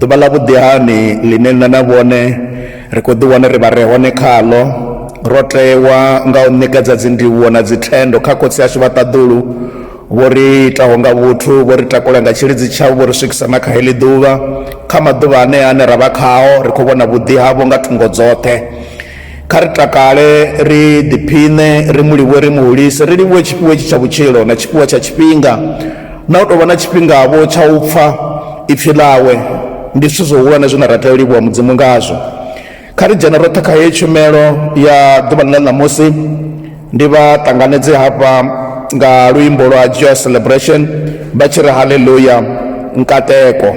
Ḓuvha ḽa vhuḓihani ḽine nṋe na vhone ri khou ḓiwana ri vha re hone khaḽo, ro tewa nga u ṋekedza dzindivhuwo na dzithendo kha Khotsi ashu vha ṱaḓulu, vho ri itaho nga vhuthu, vho ri takula nga tshilidzi tshavho, vho ri swikisa na kha heḽi ḓuvha. Kha maḓuvha anea ane ra vha khao, ri khou vhona vhuḓi havho nga thungo dzoṱhe. kha ri takale ri ḓiphiṋe ri mu livhuwe ri mu hulise ri livhuwe tshifhiwa itshi tsha vhutshilo na tshifhiwa tsha tshifhinga na u tou vha na tshifhingavho tsha u pfha ipfi ḽawe ndi zwithu zwihulwane zwine ra tea u livhuwa mudzimu ngazwo kha ri dzhene roṱhe kha heyi tshumelo ya ḓuvhani ḽa ṋamusi ndi vha ṱanganedze hafha nga luimbo lwa joy celebration vha tshi ri halleluya nkateko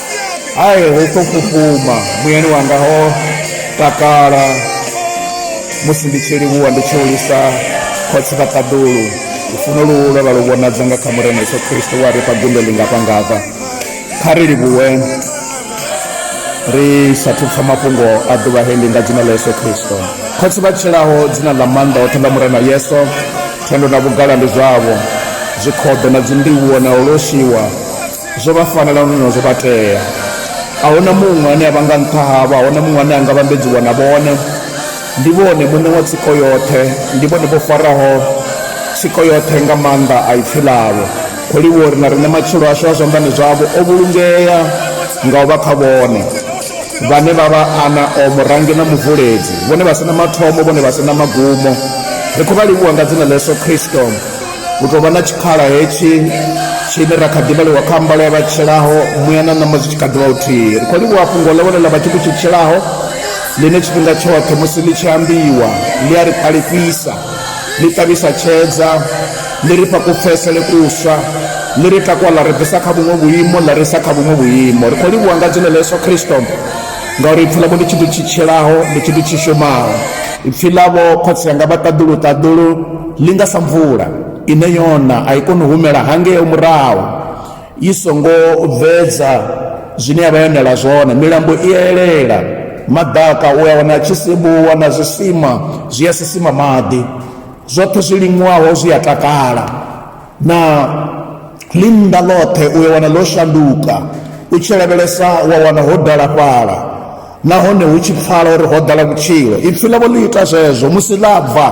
hai hu khou fhufhuma muyani wanga ho takala musi ndi tshi livhuwa ndi tshi hulisa khotsi vha ṱaḓulu lufuno luhu lwa vha lu vhonadza nga kha murena yesu khristo wa ri fha gundo ḽingafhangafha kha ri livhuwe ri sathu pfa mafhungo a ḓuvha hendi nga dzina ḽa yesu khristo khotsi vha tshilaho dzina ḽa maanḓa oṱhe ḽa murena yesu thendo na vhugala ndi zwavho zwikhoḓo na dzindivhuwo na u loshiwa zwo vha fanela nahone zwo vha tea a huna muṅwe ane a vha nga nṱha havho a huna muṅwe ane a nga vhambedziwa na vhone ndi vhone muṋe wa tsiko yoṱhe ndi vhone vho faraho tsiko yoṱhe nga maanḓa a ipfi ḽavho khou livhuwa uri na riṋe matshilo ashu a zwanḓani zwavho o vhulungea nga u vha kha vhone vhane vha vha ana o murangi na muvuledzi vhone vha si na mathomo vhone vha si na magumo ri khou vha livhuwa nga dzina ḽa yesu kristo hu tou vha na tshikhala hetshi tshine ra kha ḓivhaliwa kha mbalo ya vhatshilaho muya na ṋama zwi tshi kha ḓivha uthihi ri khou livhuwa fhungo ḽo vhone ḽa vhathu ku tshitshilaho ḽine tshifhinga tshoṱhe musi ḽi tshi ambiwa ḽi a ri ṱalifhisa ḽi ṱavhisa tshedza ḽi ri fha kupfesele kuswa ḽi ri takwa ḽa ri bvisa kha vhuṅwe vhuimo ḽa ri sa kha vhuṅwe vhuimo ri khou livhuwa nga dzina ḽa yesu khristo ngauri ipfi ḽavho ndi tshithu tshi tshilaho ndi tshithu tshi shumaho ipfi ḽavho khotsi yanga vha ṱaḓulu ṱaḓulu ḽi nga sa mvula ine yona a i koni u humela hangeo murahu i songo bvedza zwine ya vha yonela zwone milambo i elela maḓaka u a wana tshi sibuwa na zwisima zwi a sisima maḓi zwoṱhe zwi liṅwaho zwi a takala na ḽi nnḓa ḽoṱhe u ya wana ḽo shanduka u tshi lavhelesa wa wana ho dala fhala nahone hu tshi pfala uri ho dala vhutshilo ipfhi ḽavho ḽi ita zwezwo musi ḽa bva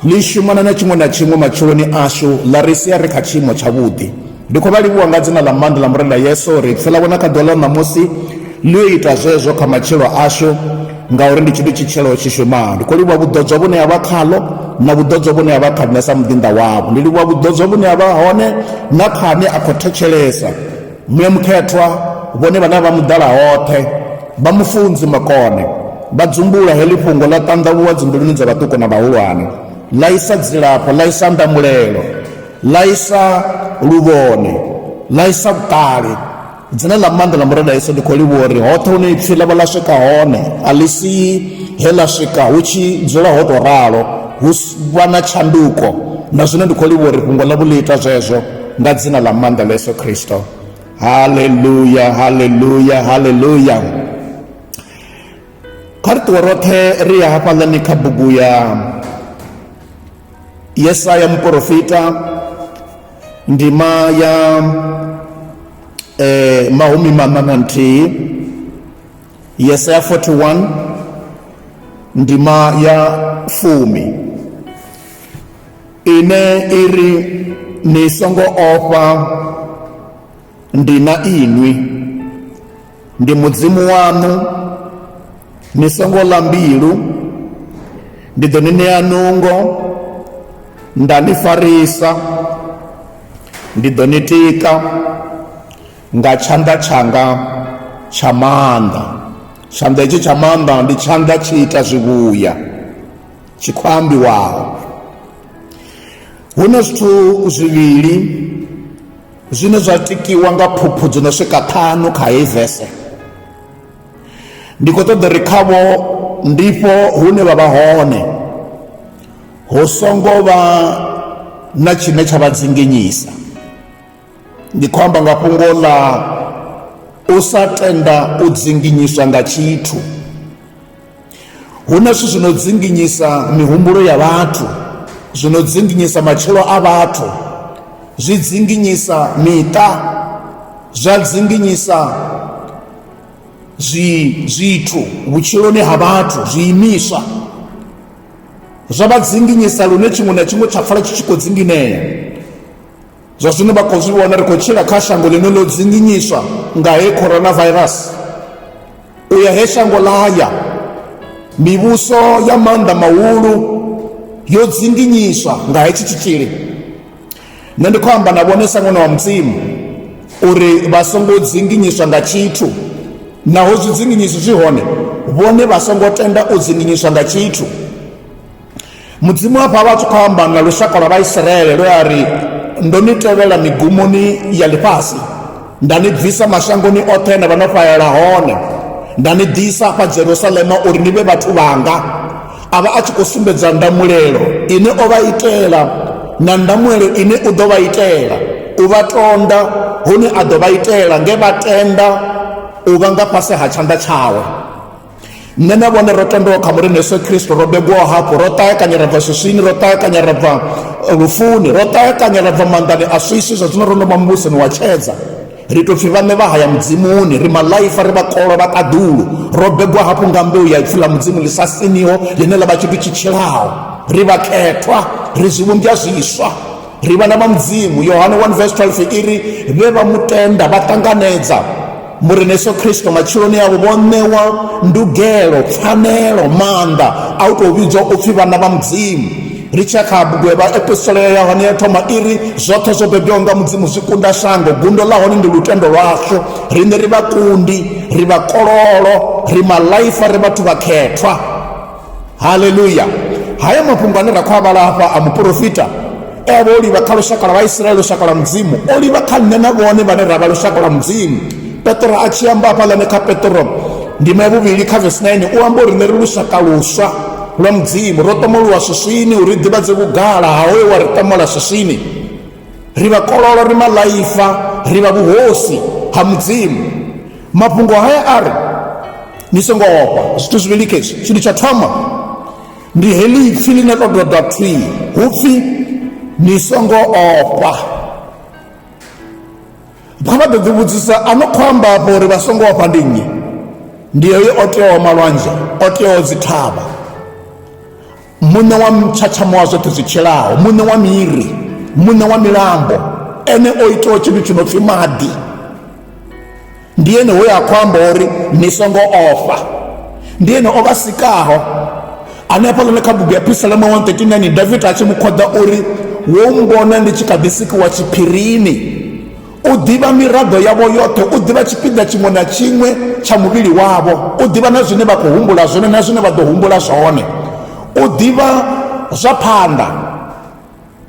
ḽi shumana na tshiṅwe na tshiṅwe matshiloni ashu ḽa ri sia ri kha tshiimo tshavhuḓi ndi khou vha livhuwa nga dzina ḽa maanḓa ḽa murena yesu uri ipfhi ḽavho na kha ḓuvha ḽa ṋamusi ḽi yo ita zwezwo kha matshilo ashu ngauri ndi tshithu tshitshelo tshi shumaho ndi khou livhuwa vhuḓodzwa vhune ha vha khaḽo na vhuḓodzwa vhune ha vha kha nṋe sa muḓinḓa wavho ndi livhuwa vhuḓodzwa vhune ha vha hone na kha ane a khou thetshelesa muya mukhethwa vhone vhane vha muḓala hoṱhe vha mufunzi makone vha dzumbula heḽi fhungo ḽa ṱanḓavhuwa dzimbiluni dza vhaṱuku na vhahulwane ḽa isa dzilafho ḽa isa ndamulelo ḽa isa luvhone ḽa isa vhuṱali dzine ḽa maanḓa ḽa murena yesu ndi khou livhuwa uri hoṱhe hune ipfhi ḽa vha ḽa swika hone a ḽi si he ḽa swika hu tshi dzula ho tou ralo hu vha na tshanduko na zwino ndi khou livhuwa uri fhungo ḽa vhuḽi ita zwezwo nga dzina ḽa maanḓa ḽa yesu khristo haleluya haleluya haleluya kha ri ṱuwe roṱhe ri ya hafhaḽani kha bugu ya yesaya muporofita ndima ya eh, mahumi maṋa na nthihi yesaya 41 ndima ya fumi ine iri ni songo ofha ndi na inwi ndi mudzimu waṋu ni songo ḽa mbilu ndi ḓo ni ṋea nungo nda ni farisa ndi ḓo ni tika nga tshanḓa tshanga tsha maanḓa tshanḓa hetshi tsha maanḓa ndi tshanḓa tshi ita zwivhuya tshi khou ambiwaho hu na zwithu zwivhili zwine zwa tikiwa nga phuphu dzo no swika ṱhanu kha heyi vese ndi khou ṱoḓa ri khavho ndifho hune vha vha hone hu songo vha na tshine tsha vha dzinginyisa ndi khou amba nga fhungo ḽa u sa tenda u dzinginyiswa nga tshithu Hu na zwithu zwi no dzinginyisa mihumbulo ya vhathu zwi no dzinginyisa matshilo a vhathu zwi dzinginyisa miṱa zwa dzinginyisa zwi zwithu vhutshiloni ha vhathu zwiimiswa zwa vha dzinginyisa lune tshiṅwe na tshiṅwe tsha pfala tshi tshi khou dzinginea Zwa zwino vha khou zwi vhona ri khou tshila kha shango ḽine ḽo dzinginyiswa nga he coronavirus u ya he shango ḽa ya mivhuso ya maanḓa mahulu yo dzinginyiswa nga hetshi tshitzhili nṋe ndi khou amba na vhone sa ṅwana wa mudzimu uri vha songo dzinginyiswa nga tshithu naho zwi dzinginyiswa zwi hone vhone vha songo tenda u dzinginyiswa nga tshithu mudzimu hafha vha tshi khou amba nga lushaka lwa vhaisraele lwe a ri ndo ni tevhela migumoni ya ḽifhasi nda ni bvisa mashangoni oṱhe na vha no fhalela hone nda ni ḓisa fha jerusalema uri ni vhe vhathu vhanga a vha a tshi khou sumbedza ndamulelo ine o vha itela na ndamulelo ine u ḓo vha itela u vha tonda hune a ḓo vha itela nge vha tenda u vha nga fhasi ha tshanḓa tshawe nṋe na vhone ro tendelwa kha mulini yesu khristo ro begwaho hafho ro ṱaekanya ra bva swiswini ro ṱaekanya ra bva eh, lufuni ro ṱaekanya ra bva maanḓani a swiswi zwa zwino ro no vha muvhusoni wa tshedza ri tou pfhi vhaṋe vha haya mudzimuni ri malaifa ri vhakolwa vha ṱaḓulu ro begwa hafhu nga mbeu ya ipfi ḽa mudzimu ḽi sa siniho ḽine ḽa vha tshithu tshi tshilaho ri vhakhethwa ri zwivhumbwa zwiswa Ri vhana vha Mudzimu. Yohane 1 vesi 12 i ri, Vhe vha mu tenda vha ṱanganedza Murena Yesu Kristo matshiloni avho vho ṋewa ndugelo, pfanelo, maanḓa a u tou vhidzwa u pfi vhana vha Mudzimu. Ri tshi ya kha bugu ya vhaepistola ya Yohane ya thoma i ri, Zwoṱhe zwo bebwaho nga Mudzimu zwi kunda shango, gundo ḽa hone ndi lutendo lwashu. Riṋe ri vhakundi, ri vhakololo, ri malaifa, ri vhathu vhakhethwa. haleluya haya mafhungo ane ra khou avhala hafha a muporofita e avha o livha kha lushaka lwa vhaisraele lushaka lwa mudzimu o livha kha nṋe na vhone vhane ra vha lushaka lwa mudzimu petro a tshi amba hafhaḽane kha petro ndima ya vhuvhili kha vesi 9 u amba uri nṋe ri lushaka luswa lwa mudzimu ro ṱomoluwa swiswini uri ḓivhadze vhugala ha hoyo wa ri ṱomola swiswini ri vha kololo ri maḽaifa ri vha vhuhosi ha mudzimu mafhungo haya a ri ni songo ofha zwithu zwivhili khezwi tshithu tsha thoma ndi heḽi ipfi ḽine ḽo doda thwi hu pfi ni songo ofha kha vha ḓo ḓi vhudzisa a no khou amba afho uri vha songo ofha ndi nnyi ndi heyo o teaho malwanzhe o teaho dzithavha muṋe wa mtshatshamo wa zwoṱhe zwi tshilaho muṋe wa miri muṋe wa milambo ene o itaho tshithu tshi no pfhi maḓi ndi ene hoyo a khou amba uri ni songo ofha ndi ene o vha sikaho ane a fhaḽone kha bugu ya pisalama 139 davida a tshi mu khoḓa uri wo mbona ndi tshi kha ḓi sikiwa tshiphirini u ḓivha miraḓo yavho yoṱhe u ḓivha tshipiḓa tshiṅwe na tshiṅwe tsha muvhili wavho u ḓivha na zwine vha khou humbula zwone na zwine vha ḓo humbula zwone u ḓivha zwa phanḓa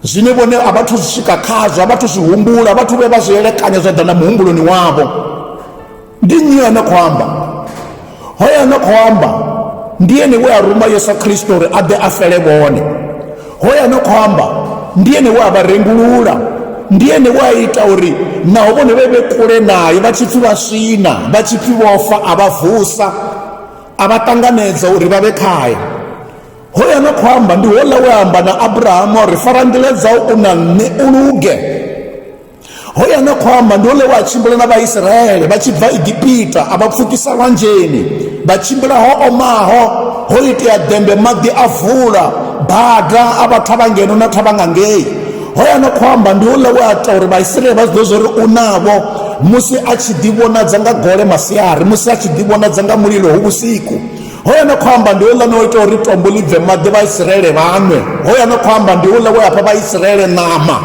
zwine vhone a vhathu zwi swika khazwo a vhathu zwi humbula vhathu vhe vha zwi elekanya zwa ḓa na muhumbuloni wavho ndi nnyi ane khou amba hoyo ane khou amba ndi ene we a ruma yesu khristo uri a ḓe a fele vhone hoyo ane khou amba ndi ene we a vha rengulula ndi ene we a ita uri naho vhone vhe vhe kule naye vha tshipfi vha swina vha tshipfi vhofa a vha vusa a vha ṱanganedza uri vha vhe khaye hoyo ane khou amba ndi hola we amba na abrahamu uri fara nḓila dzau u na nṋe u luge hoya na khou amba ndi hone wa tshimbila na vhaisraele vha tshi bva egipita a vha pfukisa lwanzheni vha tshimbila ho omaho ho itea dembe maḓi a vula bada a vha thavha ngeno na thavha nga ngei hoya na khou amba ndi houḽa we a ita uri vhaisraele vha zwiḓo zwo ri u navho musi a tshi ḓivhonadza nga gole masiari musi a tshi ḓivhonadza nga mulilo ho vhusiku hoya na khou amba ndi houḽa no ita uri tombo ḽi bve maḓi vhaisraele vhanwe hoya na khou amba ndi houḽa we a fha vhaisraele ṋama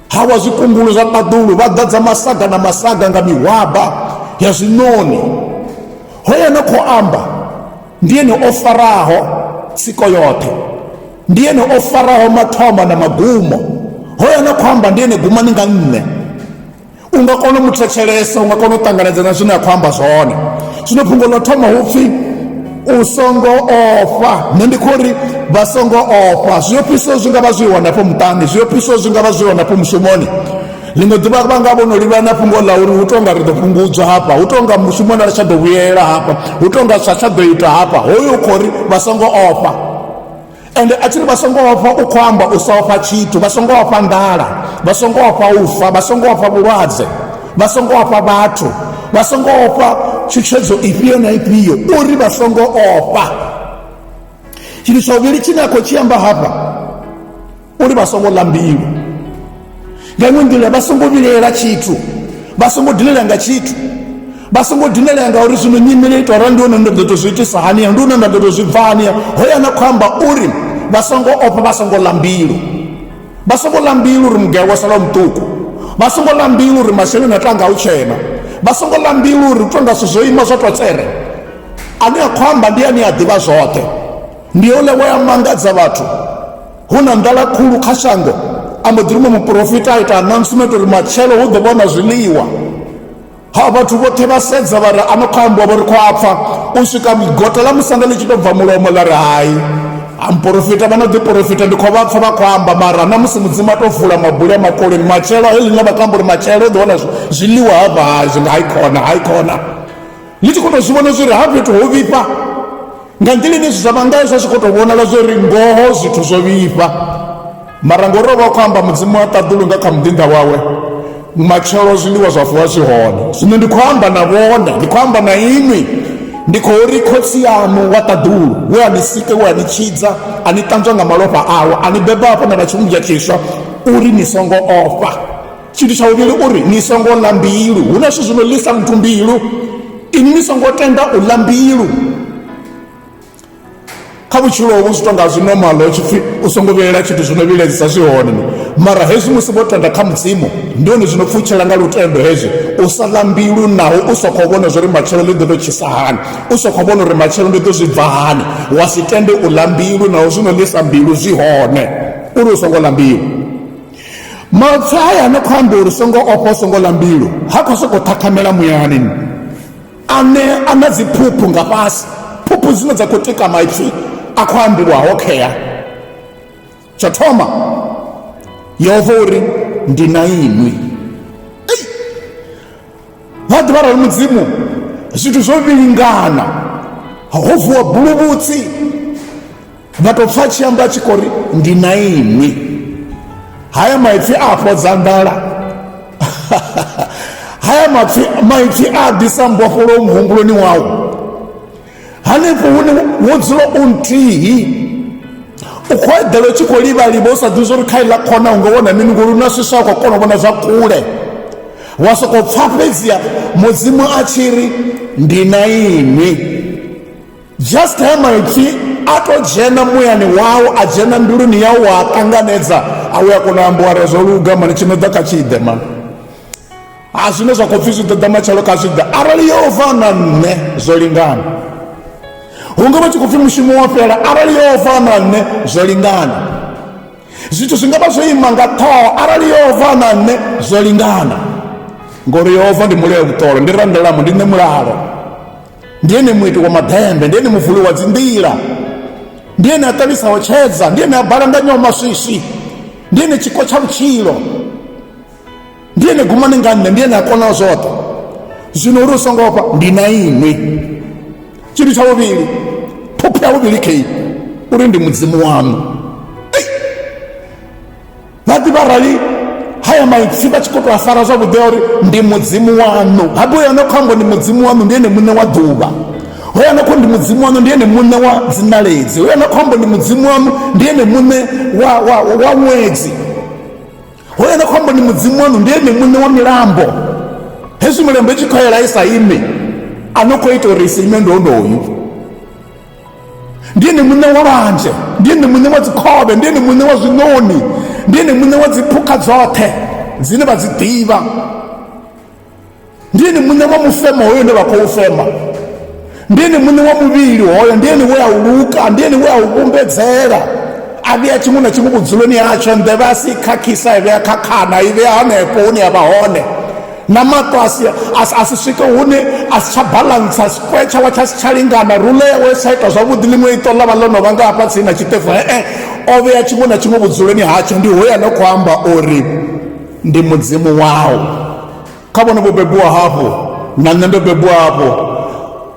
hawa zwikungulu zwa ṱaḓulu vha ḓadza masaga na masaga nga mihwaba ya zwiṋoni hoyo no khou amba ndi ene o faraho tsiko yoṱhe ndi ene o faraho mathoma na magumo hoyo no khou amba ndi ene gumani nga nṋe u nga kona u mu thetshelesa u nga kona u ṱanganedza na zwine a khou amba zwone zwino fhungo ḽo thoma hu pfhi u songo ofha nṋe ndi khou ri vha songo ofha zwi ofhiso zwi nga vha zwi hone afho muṱani zwi ofhiso zwi nga vha zwi hone afho mushumoni ḽiṅwe ḓuvha vha nga vhono livha na fhungo ḽa uri hu tou nga ri ḓo fhungudzwa hafha hu tou nga mushumoni a ri tsha ḓo vhuyela hafha hu tou nga zwa tsha ḓo ita hafha hoyo u khou ri vha songo ofha ende a tshi ri vha songo ofha u khou amba u sa ofha tshithu vha songo ofha nḓala vha songo ofha u fa vha songo ofha vhulwadze vha songo ofha vhathu vha songo ofha tshutshedzo ifhio na ifhio uri vha songo ofha tshithu tsha vhuvhili tshine a khou tshi amba hafha uri vha songo ḽa mbilu nga iṅwe nḓila vha songo vhilela tshithu vha songo dilela nga tshithu vha songo dinelea ngauri zwino nyimele ito ara ndi hone nda ḓo to zwi itisa haniya ndi hone nda ḓo to zwi bva haniya hoya na khou amba uri vha songo ofha vha songo ḽa mbilu vha songo ḽa mbilu uri mugaya wa sala muṱuku vha songo ḽa mbilu uri masheleni a tanga u tshena vha songo ḽa mbilu uri u tonga zwithu zwo ima zwa to tsere ane a khou amba ndi ane a ḓivha zwoṱhe ndi ole wa ya mangadza vhathu hu na nḓala khulu kha shango a mbo ḓi rumwe muporofita a ita announcement uri matshelo hu ḓo vhona zwiḽiwa ha vhathu vhoṱhe vha sedza vha ri ano khou ambiwa vho ri khou apfa u swika gota ḽa musanda ḽi tshi tou bva mulomo ḽa ri hai amporofita vha no ḓiporofita ndi khou vha pfa vha khou amba mara na musi mudzimu a tou vula mabuli a makoleni matshelo he ḽine vha khou amba uri matshelo u ḓo wana zwiḽiwa ha vha hai zwi nga hai khona hai khona ni tshi khou tou zwi vhona zwori ha fhethu ho vhifha nga nḓila ine zwithu zwa vha ngayo zwa tshi khou tou vhonala zwori ngoho zwithu zwo vhifha mara ngori o vha khou amba mudzimu wa ṱaḓulu nga kha muḓinḓa wawe matshelo zwiḽiwa zwa vuwa zwi hone zwino ndi khou amba na vhone ndi khou amba na inwi ndi khou ri khotsi yaṋu wa ṱaḓulu we a ni sike we a ni tshidza a ni ṱanzwa nga malofha awe a ni beba hafho na vha tshivhumbya tshiswa uri ni songo ofha tshithu tsha uvhili uri ni songo ḽa mbilu hu na zwithu zwino ḽisa muthu mbilu ini ni songo tenda u ḽa mbilu kha vhutshilo hovhu zwi tonga zwi normal ho tshipfi u songo vhielela tshithu zwino vhiledzisa zwi hone mara hezwi musi vho tenda kha mudzimu ndi hone zwino pfutshela nga lutendo hezwi u sa ḽa mbilu naho u sa khou vhona zwori matshelo ḽi ḓo tou tshisa hani u sa khou vhona uri matshelo ndi ḓo zwi bva hani wa si tende u ḽa mbilu naho zwino ḽisa mbilu zwi hone uri u songo ḽa mbilu maipfi haya no khou amba uri songo ofha songo ḽa mbilu ha khou sokou ṱhakhamela muyani ane a na dziphuphu nga fhasi phuphu dzine dza khou tika maipfi a khou ambiwa ho khea tsho thoma yehova uri ndi na inwi vha ḓivha rali mudzimu zwithu zwo vhilingana ho vuwa buluvhutsi nda tou pfa tshi amba tshi khou ri ndi na inwi haya maipfi a fhodza nḓala haya mapfi maipfi a ḓisa mbofholo muhumbuloni wau hanefho hune wo dzula u nthihi u khou eḓela u tshi khou livhaliva u sa ḓivhi zwa uri kha iḽa khona u nga wana mini ngori u na swiswa khou kona u vhona zwa kule wa sokou pfa fhedzia mudzimu a tshi ri ndi na inwi just ha maipfi a to dzhena muyani wau a dzhena mbiluni yau wa a ṱanganedza a u ya kona u ambiwa re zwo luga mani tshi no ḓa kha tshiḓe mani a zwine zwa khou pfhi zwi ḓoḓa matshelo kha zwiḓa arali yo fa na nṋe zwo lingana hunga vha tshi khou pfhi mushumo wa fhela arali yo fa na nṋe zwo lingana zwithu zwi nga vha zwo ima nga ṱhoho arali yo fa na nṋe zwo lingana ngori yehova ndi muleo vhuṱolo ndi randelamo ndi nṋe mulalo ndi ene muiti wa maḓembe ndi ene muvuli wa dzinḓila ndi ene a ṱalisaho tshedza ndi ene a balanganyaho maswisi ndi ene tshiko tsha vhutshilo ndi ene gumane nga nṋe ndi ene a konaho zwoṱhe zwino uri u songo ofha ndi na inwi tshithu tsha vhuvhili phopho ya vhuvhili kei uri ndi mudzimu waṋu vha ḓivha arali haya maipfi vha tshi khou tou a fara zwavhuḓi a uri ndi mudzimu waṋu habe uyo no khou amba ndi mudzimu waṋu ndi ene muṋe wa ḓuvha hoyo no khou ndi mudzimu waṋu ndi ene muṋe wa dzinaledzi hoyo no khou amba ndi mudzimu waṋu ndi ene muṋe wa wa wa ṅwedzi hoyo no khou amba ndi mudzimu waṋu ndi ene muṋe wa milambo hezwi milambo i tshi khou yela i sa ime a no khou ita uri i sa ime ndi onoyu ndi ene muṋe wa lwanzhe ndi ene muṋe wa dzikhovhe ndi ene muṋe wa zwiṋoni ndi ene muṋe wa dziphukha dzoṱhe dzine vha dzi ḓivha ndi ene muṋe wa mufemo hoyo une vha khou fema ndi ene muṋe wa muvhili hoyo ndi ene we a u luka ndi ene we a u vhumbedzela a vhea tshiṅwe na tshiṅwe vhudzuloni hatsho nḓevhe a si khakhisa i vhea khakhana i vhea hanefho hune ya vha hone na mato a si a si swike hune a si tsha balantsa square tshawa tsha si tsha lingana rule yawe tsha ita zwavhuḓi ḽiṅwe iṱo ḽa vha ḽo no vha nga hafha tsini na tshiṱefu e-e o vhea tshiṅwe na tshiṅwe vhudzuloni hatsho ndi hoya no khou amba uri ndi mudzimu wau kha vhone vho bebiwa hafho na nṋe ndo bebiwa hafho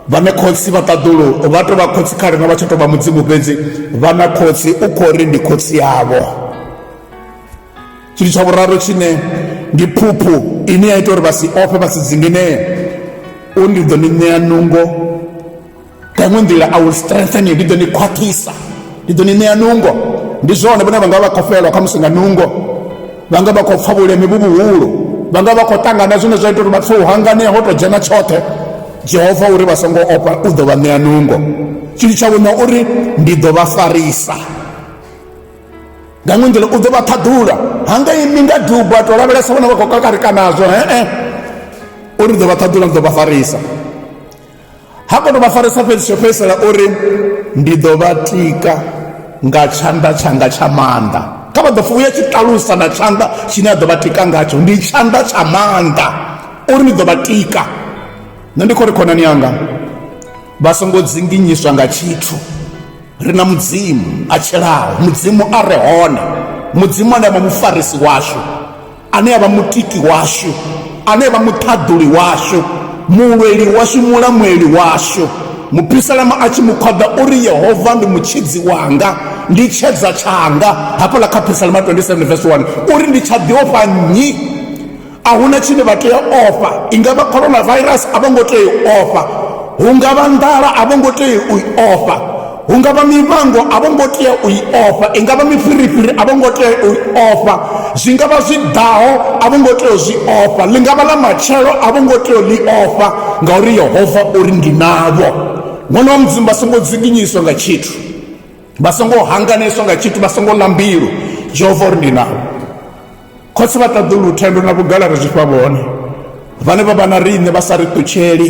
vhane khotsi vha ṱaḓulu vha tou vha khotsi kha rina vha tsha tou vha mudzimu fhedzi vhana khotsi u khou ri ndi khotsi yavho tshithu tsha vhuraru tshine ndi phuphu ine ya ita uri vha si ofhe vha si dzinginee u ndi ḓo ni ṋea nungo nga iṅwe nḓila i will strengthen you ndi ḓo ni khwaṱhisa ndi ḓo ni ṋea nungo ndi zwone vhone vha nga vha khou fhelwa kha musi nga nungo vha nga vha khou pfa vhuleme vhu vhuhulu vha nga vha khou ṱangana zwine zwa ita uri vha pfe u hanganea ho tou dzhena tshoṱhe jehova uri vha songo opa u ḓo vha ṋea nungo tshithu tsha vhuṋa uri ndi ḓo vha farisa nga ṅwe nḓila u ḓo vha ṱhaḓula ha nga imi nga duba to lavhelesa vhona vha khou kakarika nazwo he-e uri ndi ḓo vha ṱhaḓula ndi ḓo vha farisa ha kono vha farisa fhedzi tsho fhedzisela uri ndi ḓo vha tika nga tshanḓa tshanga tsha maanḓa kha vha ḓo fa uya tshi ṱalusa na tshanḓa tshine a ḓo vha tika ngatsho ndi tshanḓa tsha maanḓa uri ndi ḓo vha tika nṋe ndi khou ri khonani yanga vha songo dzinginyiswa nga tshithu ri na mudzimu a tshilaho mudzimu a re hone mudzimu ane avha mufarisi washu ane avha mutiki washu ane avha muṱhaḓuli washu mulweli washu mulamweli washu mupisalama a tshi mukhwaḓa uri yehova ndi mutshidzi wanga ndi tshedza tshanga hafhaḽa kha phisalama 27 vs 1 uri ndi tsha ḓiofha nnyi a hu na tshine vha tea ofha i nga vha coronavirus a vho ngo tea u ofha hu nga vha nḓala a vho ngo tea u i ofha hu nga vha mivhango a vho ngo tea u i ofha i nga vha mifhirifhiri a vho ngo tea u i ofha zwi nga vha zwi ḓaho a vho ngo tea u zwi ofha ḽi nga vha ḽa matshelo a vho ngo tea u ḽi ofha ngauri yehova uri ndi navho ṅwana wa mudzimu vha songo dzinginyiswa nga tshithu vha songo hanganedzwa nga tshithu vha songo lambilu jehova uri ndi navho Khotsi vha ṱaḓulu lutendo na vhugala ri zwi fha vhone vhane vha vha na riṋe vha sa ri ṱutsheli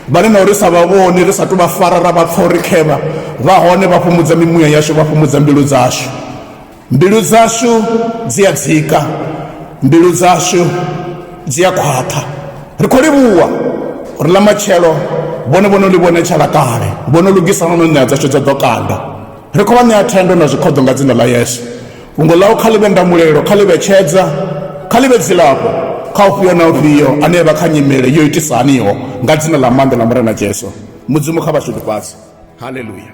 vhane na uri sa vha vhoni ri sa tu vha fara ra vha pfa uri khevha vha hone vha fhumudza mimuya yashu vha fhumudza mbilu dzashu mbilu dzashu dzi a dzika mbilu dzashu dzi a khwaṱha ri khou livhuwa uri ḽa matshelo vhone vhono ḽi vhone tshala kale vhono lugisa no no ṋea dzashu dza ḓo kanda ri khou vha ṋea thendo na zwikhoḓo nga dzina ḽa yesu Fhungo ḽau kha ḽi vhe ndamulelo, kha ḽi vhe tshedza, kha ḽi vhe dzilafho kha ufhio na ufhio ane a vha kha nyimele yo itisa haniho, nga Dzina ḽa maanḓa ḽa Murena Jesu. Mudzimu kha vha shudufhadze. Haleluya!